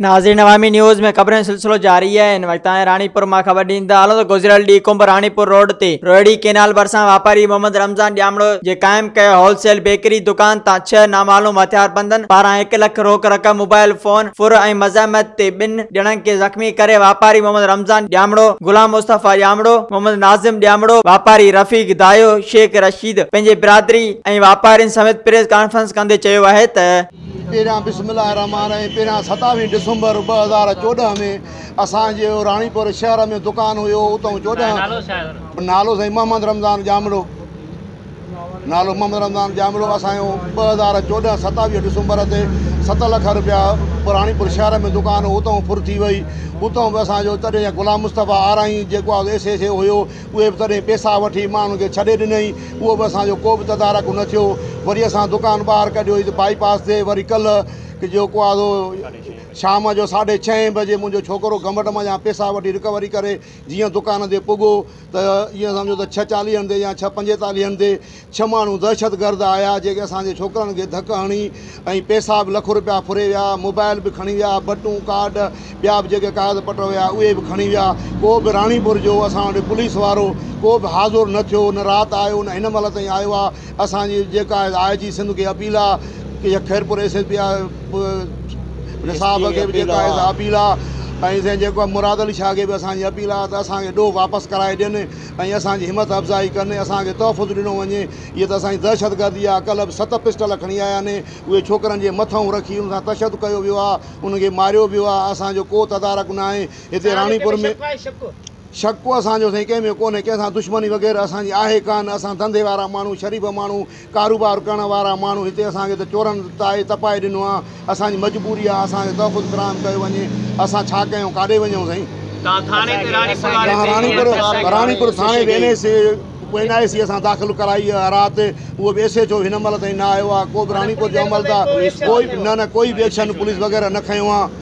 ناظرين عوامي نيوز ۾ خبرن سلسلو جاري آهي ان وقت آهي راڻيپور مان خبر ڏيندا هلون ته گذريل ڏينهن ڪنب راڻيپور روڊ تي روهڙي ڪينال ڀرسان واپاري محمد رمضان ڄامڙو جي قائم ڪيل هول سيل بيڪري دڪان تان ڇهه نامعلوم هٿياربندن پاران هڪ لک روڪ رقم موبائل فون ڦر ۽ مزاحمت تي ٻن ڄڻن کي زخمي ڪري واپاري محمد رمضان ڄامڙو، غلام مصطفيٰ ڄامڙو، محمد ناظم ڄامڙو، واپاري رفيق دايو، شيخ رشيد پنهنجي برادري ۽ واپارين سميت پريس ڪانفرنس ڪندي چيو آهي ته. پهريان بسم الله الرحمٰن الرحيم پهريان ستاويهه ڊسمبر ٻه هزار چوڏهن ۾ اسان جو راڻيپور شهر ۾ دڪان هيو اتئون چوڏهن نالو سائين محمد رمضان ڄامڙو. نالو محمد رمضان ڄامڙو اسان جو ٻه هزار چوڏهن ستاويهه ڊسمبر تي ست لک روپيا راڻيپور شهر ۾ دڪان هو اتان ڦر ٿي وئي اتان به اسان جو تڏهن جا غلام مصطفيٰ آرائين جيڪو آء ايس ايس اي هيو اهي به تڏهن پيسا وٺي مان انهن کي ڇڏي ڏنئي اهو به اسان جو ڪو به تدارڪ نه ٿيو وري اسان دڪان ٻاهر ڪڍيو هيس بائي پاس تي وري ڪلهه جيڪو آ سو شام جو ساڍي ڇهين بجي منهنجو ڇوڪرو گمٽ مان جا پيسا وٺي رڪوري ڪري جيئن دڪان تي پڳو ته ايئن سمجهو ته ڇهه چاليهن تي يا ڇهه پنجيتاليهن تي ڇهه ماڻهو دهشتگرد آيا جيڪي اسان جي ڇوڪرن کي ڌڪ هڻي ۽ پئسا به لک رپيا ڦري ويا موبائل به کڻي ويا بٽون ڪارڊ ٻيا به جيڪي ڪاغذ پٽر هيا اهي به کڻي ويا ڪو به راڻيپور جو اسان وٽ پوليس وارو ڪو به حاضر نه ٿيو نه رات آيو نه هن مهل تائين آيو آهي اسان جي جيڪا آء جي سنڌ کي اپيل آ يا خيرپور ايس ايس پي آء نصاب کي به جيڪا آء اپيل آ ۽ سائين جيڪو آ مراد علي شاھ کي به اسان جي اپيل آ ته اسان کي ڏوھ واپس ڪرائي ڏين ۽ اسان جي ھمت افزائي ڪن اسان کي تحفظ ڏنو وڃي ھيء ته اسان جي دھشت گردي آ ڪلھ به ست پسٽل کڻي آيا آھن اھي ڇوڪرن جي مٿئون رکي انھن سان تشدد ڪيو ويو آ انھن کي ماريو ويو آ اسان جو ڪو تدارڪ ناھي ھتي راڻيپور ۾ شڪ ڪو اسان جو سائين ڪنهن ۾ ڪونهي، ڪنهن سان دشمني وغيره اسان جي آهي ڪانه، اسان ڌنڌي وارا ماڻهو، شريف ماڻهو، ڪاروبار ڪرڻ وارا ماڻهو، هتي اسان کي ته چورن تاهي تپائي ڏنو آهي، اسان جي مجبوري آهي، اسان کي تحفظ فراهم ڪيو وڃي، اسان ڇا ڪيون، ڪاڏي وڃون سائين. تان ٿاڻي تي راڻيپور واري تان راڻيپور راڻيپور ٿاڻي به N A C N I C اسان داخل ڪرائي آهي رات، اهو به ايس ايچ او هن مهل تائين نه آيو آهي، ڪو به راڻيپور جو عملدار ڪوئي نه نه ڪوئي به ايڪشن پوليس وغيره نه کنيو آهي.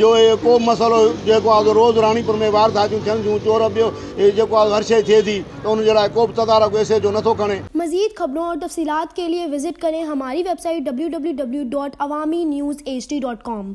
جو هي ڪو به مسئلو جيڪو آهي سو روز راڻيپور ۾ وارداتيون ٿين ٿيون چور ٻيو هي جيڪو آهي سو هر شيء ٿئي ٿي ته ان جي لاء ڪو به تدارڪ ايس ايڇ او نٿو کڻي. مزيد خبرون اور تفصيلات کے لئے وزٽ ڪرين ھماري ويب سائيٽ www.awaminews hd.com.